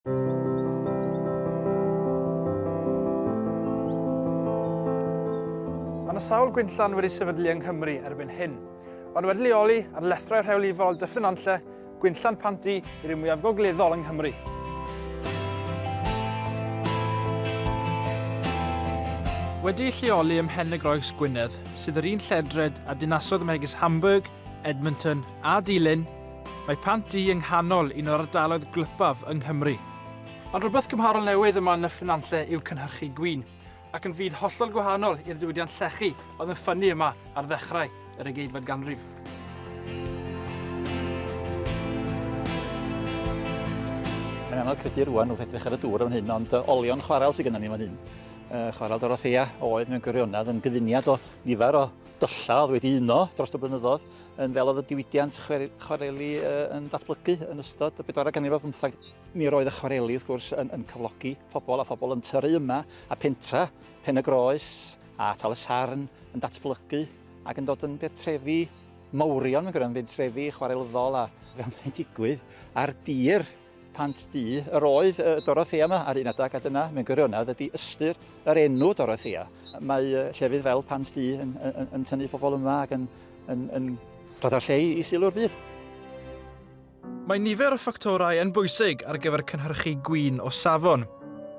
Mae yna sawl gwynllan wedi sefydlu yng Nghymru erbyn hyn. Ond wedi leoli ar lethrau rheolifol Dyffryn Anlle, gwynllan Panti i'r un mwyaf gogleddol yng Nghymru. Wedi lleoli ym Mhen y Groes, Gwynedd, sydd yr un lledred a dinasoedd megis Hamburg, Edmonton a Dulyn, Mae Pant Du yng nghanol un o'r ardaloedd gwlypaf yng Nghymru. Ond rhywbeth cymharol newydd yma yn Nyffryn Nantlle yw cynhyrchu gwin, ac yn fyd hollol gwahanol i'r diwydiant llechi oedd yn ffynnu yma ar ddechrau yr ugeinfed ganrif. Mae'n anodd credu rwan wrth edrych ar y dŵr yn hyn, ond uh, olion chwarel sydd gennym ni fan hyn. Uh, chwarel Dorothea oedd mewn gwirionedd yn gyfuniad o nifer o dylla oedd wedi uno dros y blynyddoedd yn fel oedd y diwydiant chwareli yn datblygu yn ystod y bedwarau ganrif ar bymthag. Mi roedd y chwareli, wrth gwrs, yn, yn cyflogi pobl a phobl yn tyru yma, a pentra, pen y groes, a tal y sarn yn datblygu ac yn dod yn bertrefi mawrion, mae'n gwneud yn bertrefi chwarelyddol a fel mae'n digwydd ar dir Pant du yr oedd y Dorothea yma ar un adeg a dyna, mewn gwirionedd, ydy ystyr yr enw Dorothea. Mae llefydd fel Pant du yn, yn, yn tynnu pobl yma ac yn, yn, yn dod â'r lle i sylw'r byd. Mae nifer o ffactorau yn bwysig ar gyfer cynhyrchu gwin o safon,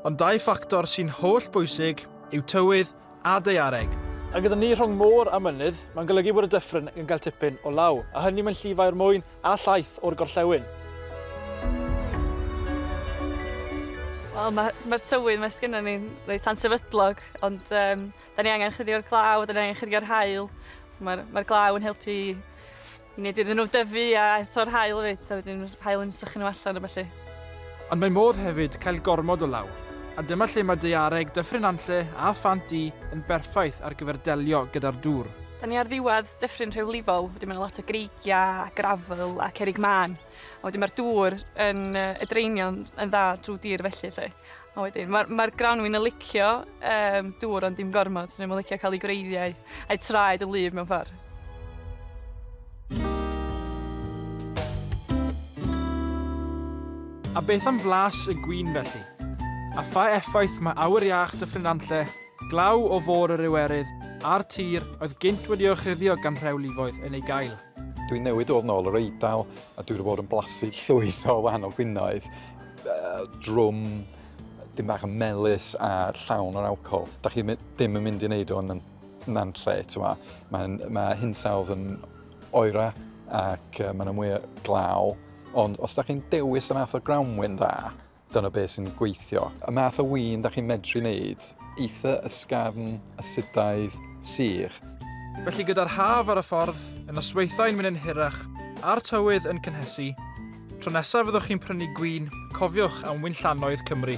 ond dau ffactor sy'n holl bwysig yw tywydd a daeareg. A gyda ni rhwng môr a mynydd, mae'n golygu bod y dyffryn yn cael tipyn o law, a hynny mewn llifair mwyn a llaeth o'r gorllewin. Wel, mae'r ma, ma tywydd mae sgynna ni'n reit ansefydlog, ond um, da ni angen chydig o'r glaw, da ni angen chydig o'r hael. Mae'r ma glaw yn helpu I wneud iddyn nhw dyfu a torr haul hefyd, a wedyn haul yn sychu nhw allan a ballu. Ond mae modd hefyd cael gormod o law, a dyma lle mae daeareg Dyffryn Nantlle a Phant Du yn berffaith ar gyfer delio gyda'r dŵr. Da ni ar ddiwedd dyffryn rhewlifol, wedyn mae'n lot o greigiau a grafel a cerig mân, a wedyn mae'r dŵr yn y draenion yn dda drwy dir felly lle. A wedyn, mae'r ma grawnwin yn licio um, dŵr ond dim gormod, so nhw'n licio cael ei gwreiddiau a'i traed yn lif mewn ffordd. A beth am flas y gwyn felly? A pha effaith mae awyr iach Dyffryn Anlle, glaw o fôr yr Iwerydd a'r tir oedd gynt wedi orchuddio gan rhewlifoedd yn ei gael? Dwi'n newid oedd nôl yr Eidal a dwi'n bod yn blasu llwyth o wahanol gwinoedd drwm dim bach yn melus a llawn o'r alcohol. Da chi ddim yn mynd i wneud o'n na'n lle, ti'n ma. Mae, mae hinsawdd yn oera ac uh, mae'n mwy glaw. Ond os da chi'n dewis y math o grawnwyn dda, dyna beth sy'n gweithio. Y math o wyn da chi'n medru wneud, eitha ysgafn, asidaidd, sych. Felly gyda'r haf ar y ffordd, y nosweithau'n mynd yn hirach, a'r tywydd yn cynhesu, Tro nesaf fyddwch chi'n prynu gwin, cofiwch am winllanoedd Cymru.